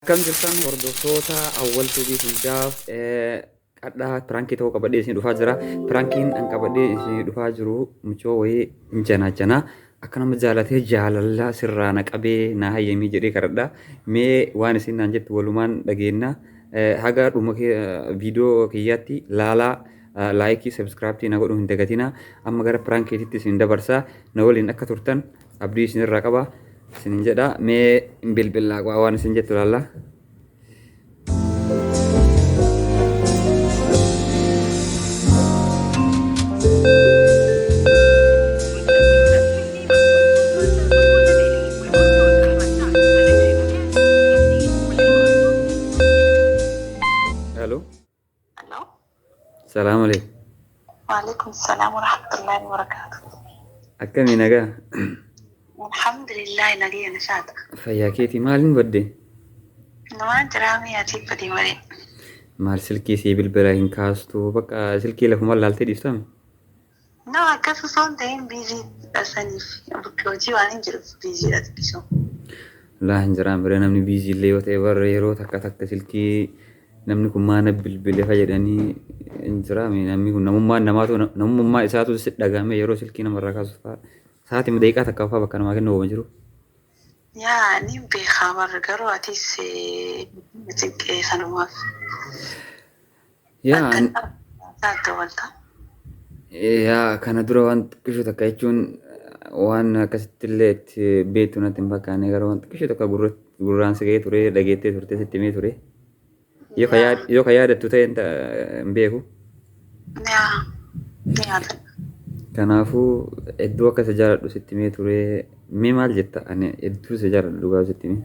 Akkam jirtan hordoftoota awwal tuubii hundaaf qadhaa pirankii ta'uu qabadhee isin dhufaa jira pirankiin an qabadhee isin dhufaa jiru mucoo wayii hin janaa janaa akka nama jaalatee jaalallaa sirraa na qabee na hayyamii jedhee kadhadha mee waan isin naan jettu walumaan dhageenna haga dhuma viidiyoo kiyyaatti laalaa laayikii sabskiraaptii na godhuu hin dagatina amma gara piraankiititti isin dabarsa na waliin akka turtan abdii isin irraa qaba isin jedha mee hin bilbilaa qo'a waan isin jettu laalla. Hello. Hello. Salaam alaikum. Waalaikum salaam wa rahmatullahi wa barakaatu. Akkami nagaa? Alhamdulillah nagaya nashaata. Fayyaa keetii maaliin badde? Numaa jiraamee ati badee malee. Maal silkii sii bilbila hin kaastu bakka silkii lafuma laaltee dhiiftame? No akkas osoo hin ta'in biizii dha saniif bakka hojii waan hin jiruuf biizii dha xiqqisoo. Laa hin jiraan bira namni biizii illee yoo ta'e barra yeroo takka takka silkii namni kun maa na bilbile fa jedhanii hin jiraame namni kun namummaan namaatu namummaa isaatu si dhagaame yeroo silkii namarraa kaasu faa sa'aatii daqiiqaa takka faa bakka namaa kennu hin jiru. Yaa ni beekaa barra garuu atis eh, cinqee sanumaaf. Yaa an- yaa kana dura waan xiqqishu takka jechuun waan akkasitti illee itti beektu natti hin fakkaanne garuu waan xiqqishu takka gurra- gurraan si ga'ee ture dhageettee turte sitti himee ture yoo ka yaad- yoo ka yaadattu ta'e hin ta- hin beeku kanaafuu hedduu akka isa jaaladhu sitti himee ture mee maal jetta ani hedduu isa jaaladhu dhugaa sitti himee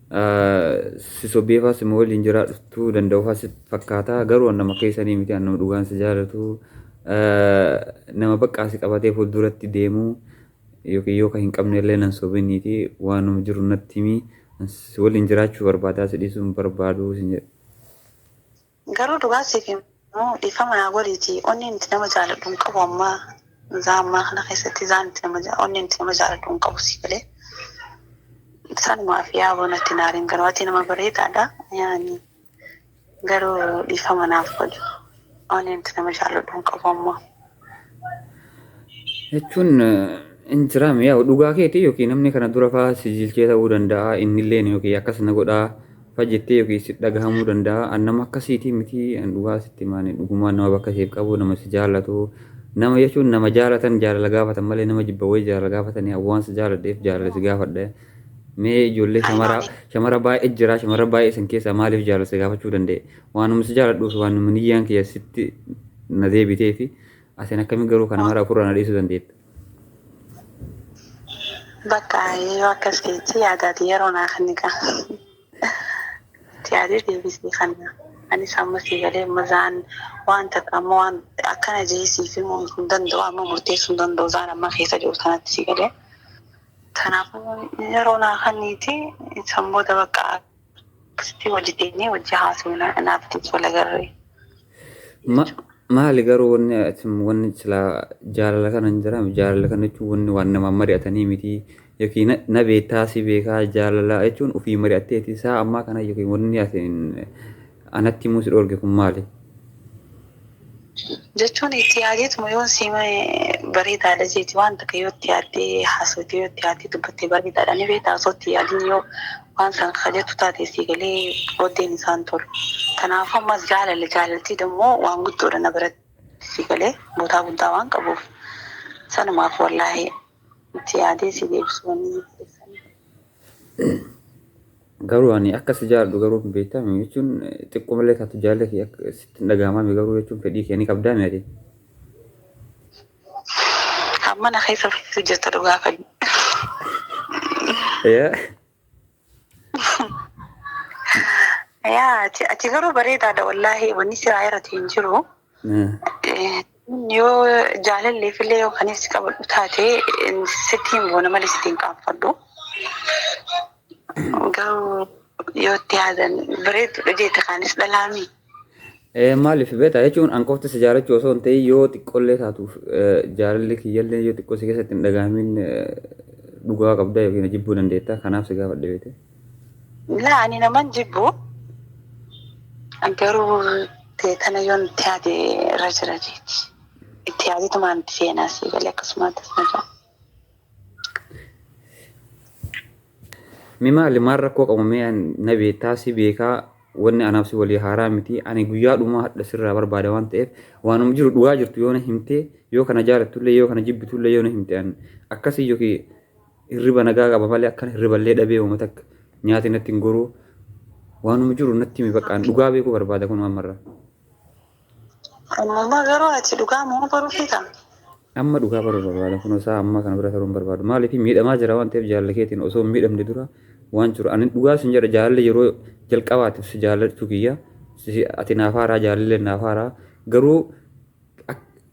si sobbeefaa sima waliin jiraadhuftuu danda'ufaa si fakkaataa garuu an nama keessanii miti an nama dhugaan si jaalatu nama baqqaa si qabatee fuulduratti deemu yookiin yoo ka hin qabne illee nan sobiniiti waanuma jiru natti himi si waliin jiraachuu barbaadaa si dhiisuu hin barbaadu sin jedhe. Garuu dhugaa siif himuu dhiifama naa godhiiti onneen itti nama jaaladhu hin qabu ammaa zaa ammaa kana keessatti izaan itti nama ja onneen itti nama jaaladhu hin qabu sii galee sanumaaf yaaboo natti hin aariin garuu ati nama bareedaadha yaani garuu dhiifama naaf godhi onneen itti nama jaaladhu hin qabu ammaa. jechuun hin jiraam yaa dhugaa keetii yookiin namni kana dura faa si jilchee ta'uu danda'a innilleen yookiin akkas na godhaa fa jettee yookiin si dhagahamuu danda'a an nama akkasiitii miti an dhugaa sitti maani dhugumaan nama bakka siif qabu nama si jaallatu nama jechuun nama jaalatan jaalala gaafatan malee nama jibba wayii jaalala gaafatanii an waan si jaaladheef jaalala si gaafadhe mee ijoollee shamara shamara baay'ee jira shamara baay'ee isin keessaa maaliif jaalala si gaafachuu danda'e Waanuma si jaaladhuufi waanuma niyyaan kiyya sitti na deebiteefi asin akkamiin garuu kana mara ofirraa na dhiisuu dandeetta? Bakka yoo akkas jechi yaadaati yeroo naa kenni kan yaadee deebisee kanna. Anis amma sii galee amma zaan waan takka amma waan akkana jee siif himuu hin danda'u amma murteessuu hin danda'u zaan amma keessa jiru sanatti sii galee. Kanaafuu yeroo naa kenniiti san booda bakka Akkasitti hojii teenyee hojii haasofna naaftis wal agarree. Ma- maali garuu wanni asin wanni silaa jaalala kana hin jiraam jaalala kana jechuun wanni waan namaan mari'atanii miti yookiin na- na beektaa si beekaa jaalala jechuun ofii mari'atteeti isaa ammaa kana yookiin wanni asin Anatti himuu si dhoorge kun maali? Jechuun itti yaadeetuma yoon si hime bareedaadha jeeti waan takka yoo itti yaaddee haasofte yoo itti yaaddee dubbatte bareedaadha ni beekta osoo itti yaadin yoo waan san ka jettu taate sii galee booddeen isaan tolu. Kanaafuu ammas jaalala jaalaltiin immoo waan guddoodha na biratti sii galee bootaa guddaa waan qabuuf sanumaaf wallaahi itti yaadee si deebisuu wanni hin fedheef saniif. Garuu ani akka si jaaladhu garuu hin beektaa miti jechuun xiqquma illee taatu jaalala kee akka sitti hin dhaga'amaa miti garuu jechuun fedhii kee ni qabdaa miti ati. Kan mana keessa fiitu jirta dhugaa kan. Yaa Yaa ati ati garuu bareedaadha wallaahi wanni siraa irratti hin jiru. Yoo jaalalleef illee yoo kan si qabadhu taate sitti hin boona malee sitti hin qaanfadhu. Garuu yoo itti yaadan bareeddudha jeete kaanis dhalaami. Maaliif beektaa jechuun an qofti si jaalachuu osoo hin ta'in yoo xiqqollee taatuuf jaalalli kiyyallee yoo xiqqoo si keessatti hin dhagaamin dhugaa qabda yookiin jibbuu dandeetta kanaaf si gaafadhe beekte. Laa ani naman jibbu garuu teetana yoon itti yaade irra jira jeeti. Itti yaaditumaan itti seenaa sii galee akkasumaatti itti jira. Mi maali maal rakkoo qabu mee an- na beektaa si beekaa wanni anaaf si walii haaraa miti ani guyyaa dhumaa hadha sirraa barbaada waan ta'eef waanuma jiru dhugaa jirtu yoo na himtee yoo kana jaalattullee yoo kana jibbitullee yoo na himte an akkasii yookiin Hirriba nagaa qaba malee akkan hirriballee dhabee hooma takka nyaati natti hin goruu waanuma jiru natti himi baqqaan dhugaa beekuu barbaada kun ammarraa. Ammuma garuu ati dhugaa moo baruu feeta? Amma dhugaa baruu barbaada kun isaa amma kana bira taruun barbaadu maaliif miidhamaa jira waan ta'eef jaalala keetiin osoo hin miidhamne dura waan jiru ani dhugaa sin jedha jaalalli yeroo jalqabaatiif si jaalachuu kiyya ati naaf haaraa jaalallee naaf haaraa garuu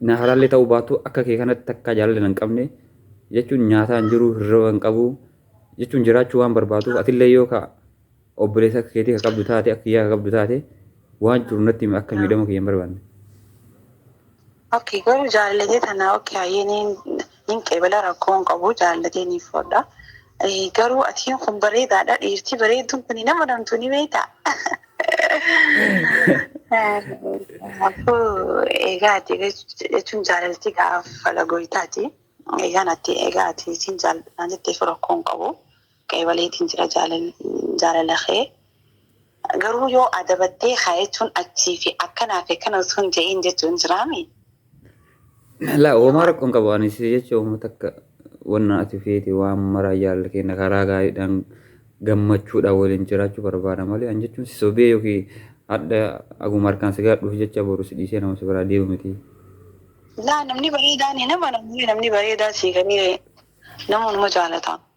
na halaallee ta'uu baatu akka kee kanatti takkaa jaalala nan qabne jechuun nyaataa hin jiru hirriba hin qabu jechuun jiraachuu waan barbaaduuf atillee yoo ka obboleessa akka keetii ka qabdu taate akka kiyyaa ka qabdu taate waan jiru natti himi akka miidhama kiyya hin barbaanne. Okay, garuu jaalallee tanaa okay hayyee ni Hin qeebala rakkoo hin qabu jaallatee ni fudha. Garuu atiin kun bareedaadha dhiirtii bareedduun kun hin amanamtu ni beektaa. Kanaafuu egaa ati jechuun jaalalti gaafa fala goytaati. Egaan ati egaa ati siin jaalladhaan jetteef rakkoo hin qabu. Qeebaleetiin jira jaalala kee Garuu yoo adabattee haa jechuun achii fi akkanaa fi akkana osoo hin je'iin jechuun jiraami. Laa uumaa rakkoo hin qabu ani si jecha uumaa takka wanna ati feete waan maraa jaalala keenya karaa gaariidhaan gammachuudhaan waliin jiraachuu barbaada malee an jechuun si sobee yookiin hadha aguma harkaan si gaadhuuf jecha boru si dhiisee nama si biraa deemu miti. Laa namni bareedaan hin amanamu namni bareedaa sii galee namoonni jaalata.